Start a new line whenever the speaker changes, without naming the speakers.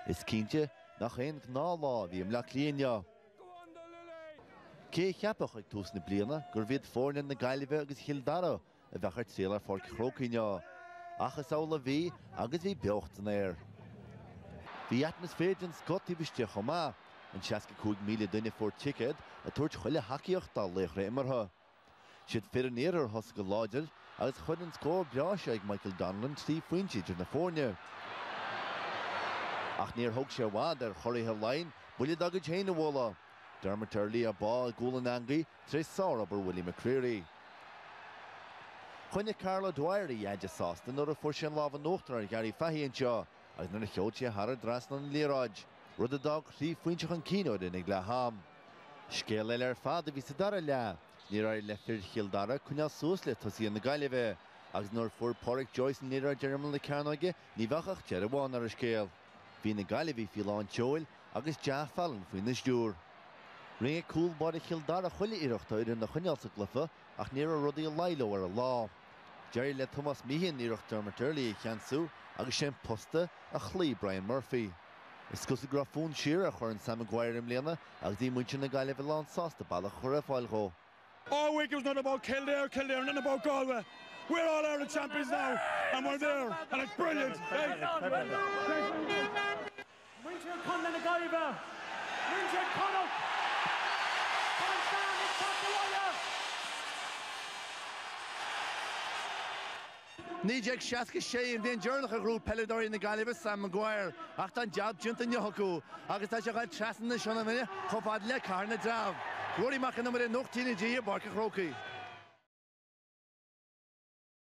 Is cinnte nach aon ghnáthlá a bhí i mBleá Cliath inniu. Cé a cheapfadh ag tús na bliana gurbh iad foirne na Gaillimhe agus Chill Dara a bheadh ag triall ar Pháirc an Chrócaigh inniu? Ach is amhlaidh a bhí agus bhí beocht san aer. Bhí atmaisféar den scoth taobh istigh chomh maith, an 65,000 duine a fuair ticéad ag tabhairt chuile thacaíocht dá laochra imeartha. Siad fir an iarthair a thosaigh go láidir agus chuir an scór breá seo ag Michael Donnellan trí phointe idir na foirne. Ach níor thóg sé i bhfad ar churaidh Laighean buille dá gcuid féin a bhualadh. Dermot Earley á bá i gcúl an eangaí tar éis sárobair Willie McCreery. Choinnigh Karl O'Dwyer a dheaide sásta nuair a fuair sé an lámh in uachtar ar Ghary Fahy anseo. agus nuair a sheol sé thar an dtrasnán an liathróid, rud a d'fhág trí phointe chun cinn a fhoireann ag leath-am. Scéal eile ar fad a bhí sa dara leath. Níor éirigh le fir Chill Dara coinneáil suas le tosaithe na Gaillimhe, agus nuair fuair Pádraic Joyce an liathróid ar imeall na cearnóige, ní bheadh ach deireadh amháin ar an scéal. Bhí na Gaillimhigh faoi lán tseoil agus Ja Fallon faoina stiúr. Rinne cúl báire Chill Dara chuile iarracht a fhoireann a choinneáil sa gcluiche, Ach ní raibh rudaí ag éirí leo ar an lá. D'éirigh le Tomás Meehan iarracht Dermot Earley a cheansú agus sé an posta a chloígh Brian Murphy. Is cosúil go raibh fonn siar ar Chorn Sam Maguire i mbliana agus bhí muintir na Gaillimhe lán sásta bealach a chur ar fáil dhó. All week it
was nothing but Kildare, Kildare, nothing about Galway. We're All-Ireland champions now and we're there and it's brilliant!
Muintir Chontae na Gaillimhe,
Muintir Chonnacht, tá an Sam ag teacht abhaile. 1966 an bhliain deireanach a ghnóthaigh peileadóirí na Gaillimhe Sam Maguire ach tá an jab déanta inniu acu agus tá sé ag dul trasna na Sionainne chomh fada le Cathair na dTreabh. Ruairí Mac Con Iomaire, Nuacht TnaG i bPáirc an Chrócaigh.